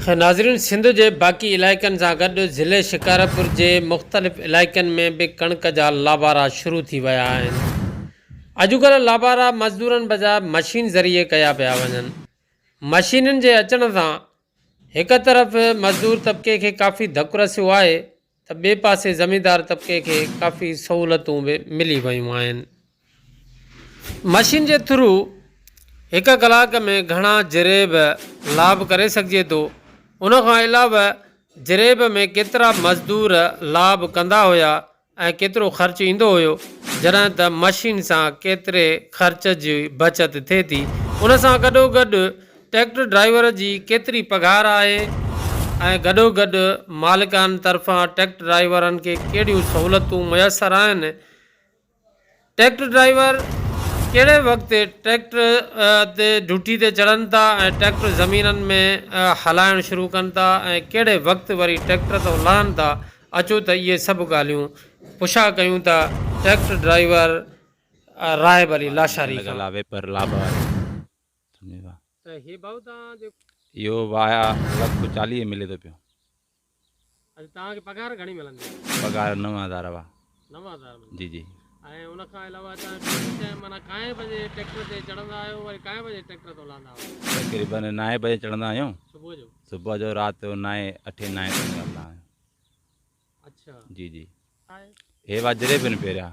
ناظرين سنڌ جي باقي علائقن سان گڏ ضلعي شڪارپور جي مختلف علائقن ۾ به ڪڻڪ جا لابارا شروع ٿي ويا آهن اڄڪلهه لابارا مزدورن بجاء مشين ذريعي ڪيا پيا وڃن مشينن جي اچڻ سان هڪ طرف مزدور طبقي کي ڪافي ڌڪ رسيو آهي ته ٻئي پاسي زميندار طبقي کي ڪافي سهولتون به ملي ويون آهن. مشين جي ٿرو هڪ ڪلاڪ ۾ گهڻا جريب لاڀ ڪري سگهجي ٿو. ان کان علاوه جريب ۾ ڪيترا مزدور لاڀ ڪندا هيا ۽ ڪيترو خرچ ايندو هيو جڏهن ته مشين سان ڪيتري خرچ جي بچت ٿئي ٿي. ان سان گڏوگڏ ٽريڪٽر ڊرائيور جي ڪيتري پگهار آهي ۽ گڏوگڏ مالڪان طرفان ٽريڪٽر ڊرائيورن کي ڪهڙيون سهولتون ميسر آهن، ٽريڪٽر ڊرائيور ڪهڙي وقت ٽريڪٽر تي ڊيوٽي تي چڙهن ٿا ۽ ٽريڪٽر زمينن ۾ هلائڻ شروع ڪن ٿا ۽ ڪهڙي وقت وري ٽريڪٽر تان لهن ٿا اچو ته اهي سڀ ڳالهيون پڇا ڪيون ٿا ٽريڪٽر ڊرائيور راهب علي لاشاري کان. اهو واهه لک چاليهه ملي ٿو پيو. پگهار نو هزار اهو. جي جي. تقريبن نائين بجي چڙهندا آهيون. صبح جو رات جو نائين اٺين نائين تائين هلندا آهيون. جي جي. هي واهه جري پين پهريان.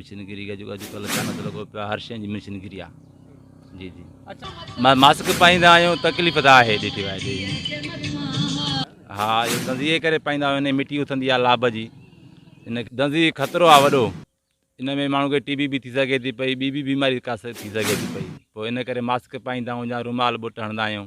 مشينگري جي اڄ ڪلهه سنت لڳو پيو هر شين جي مشينگري آ جي جي اچا ماسڪ پائيندا آيون تڪليف ته آهي ڏيٺي وائي جي ها اهو دندي جي ڪري پائيندا آيون ان مٽي اٿندي آ لاب جي ان دندي خطرو آ وڏو ان ۾ ماڻهو کي ٽي بي به ٿي سگهي ٿي پئي ٻي به بيماري ڪا ٿي سگهي ٿي پئي پوء ان ڪري ماسڪ پائيندا آيون يا رومال ٻوٽ هڻدا آيون